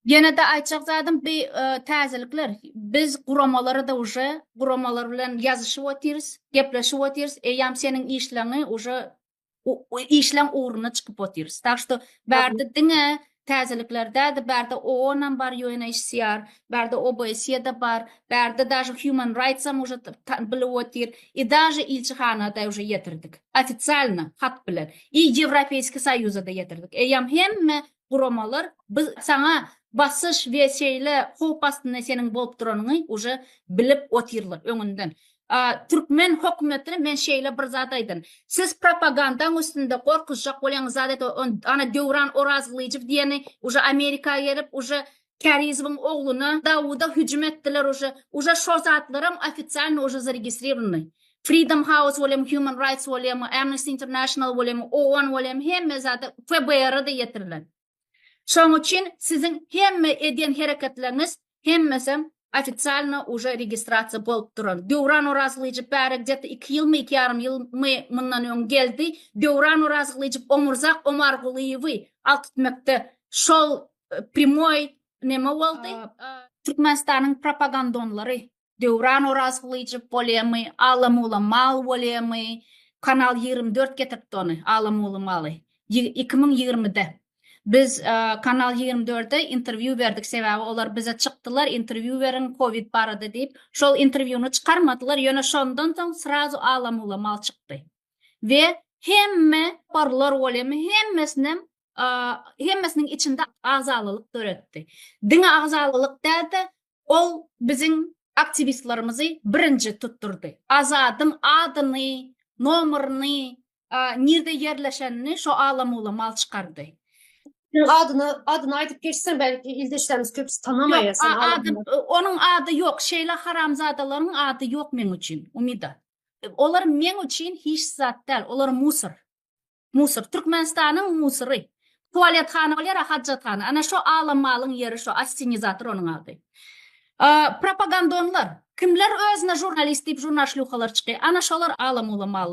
Ýene-de aýtjak zadym bi täzelikler. Biz guramalary-da uje guramalar bilen ýazyşyp otyrys, gepleşip otyrys, eýýäm seniň işleňi uje işleň ugruna çykyp otyrys. Tak što bärde diňe täzelikler däl-de, bärde OON-am bar, UNHCR, bärde OBSE-de bar, bärde daže Human Rights-am uje bilip otyr i daže ilçihana-da uje ýetirdik. Ofisialno hat bilen i Ýewropeýski Soýuza-da ýetirdik. Eýýäm hemme guramalar biz saňa basyş we şeýle howp astynda seniň bolup duranyňy uje bilip otyrlar öňünden. Türkmen hökümetine men şeýle bir zat aýdyn. Siz propagandaň üstünde gorkuzjak bolýaňyz zat et o ana Döwran Orazgylyjow diýeni uje Amerika gelip uje Kärizowyň ogluna Dawuda hüjüm etdiler uje uje şo zatlaram ofisialno uje zaregistrirowny Freedom House bolem Human Rights bolem Amnesty International bolem OON bolem hemme zada FBR'a da ýetirler şoň üçin siziň hemme edýän hereketleriňiz hemmesem ofisialno uje registrasiýa bolup duran Döwran Orazgylyjow bäri gdeta iki ýylmy iki ýarym ýylmy mundan öň geldi Döwran Orazgylyjow Omurzak Omargulyýewi alkytmekde şol primoý neme boldy? Türkmenistanyň propagandonlary Döwran Orazgylyjow bolýamy, Alamuly mal bolýamy, Kanal ýigrimi dört getiripdi ony, Alamuly maly. Iki müň ýigrimide. Biz Kanal ýigrimi dörde interwýu berdik, sebäbi olar bize çykdylar, interwýu beriň kowid barada diýip. Şol interwýuny çykarmadylar, ýöne şondan soň srazu Alamuly mal çykdy. We hemme barlar bolýamy, hemmesinem hemmesiniň içinde agzalylyk döretdi. Diňe agzalylyk däl-de, ol biziň aktiwistlerimizi birinji tutdurdy. Azadyň adyny, nomerini, nirde ýerleşenini şo ala-mula mal çykardy. Adyny, adyny aýdyp geçseň, belki ildeşlerimiz köpüsi tanamaýar seni. Ýok, ady, onuň ady ýok. Şeýle haramzadalaryň ady ýok meň üçin, Umida. Olar meň üçin hiç zat däl, olar musor. Musur. Türkmenistanyň musury. Tualettana ol ýer-ä hajathana. Ana şo alam malyň ýeri şo, assenizator onuň ady. Propagandonlar. Kimler özüne žurnalist diýip žurnalşlýuhalar çyky. Ana şolar alam-ulam mallar.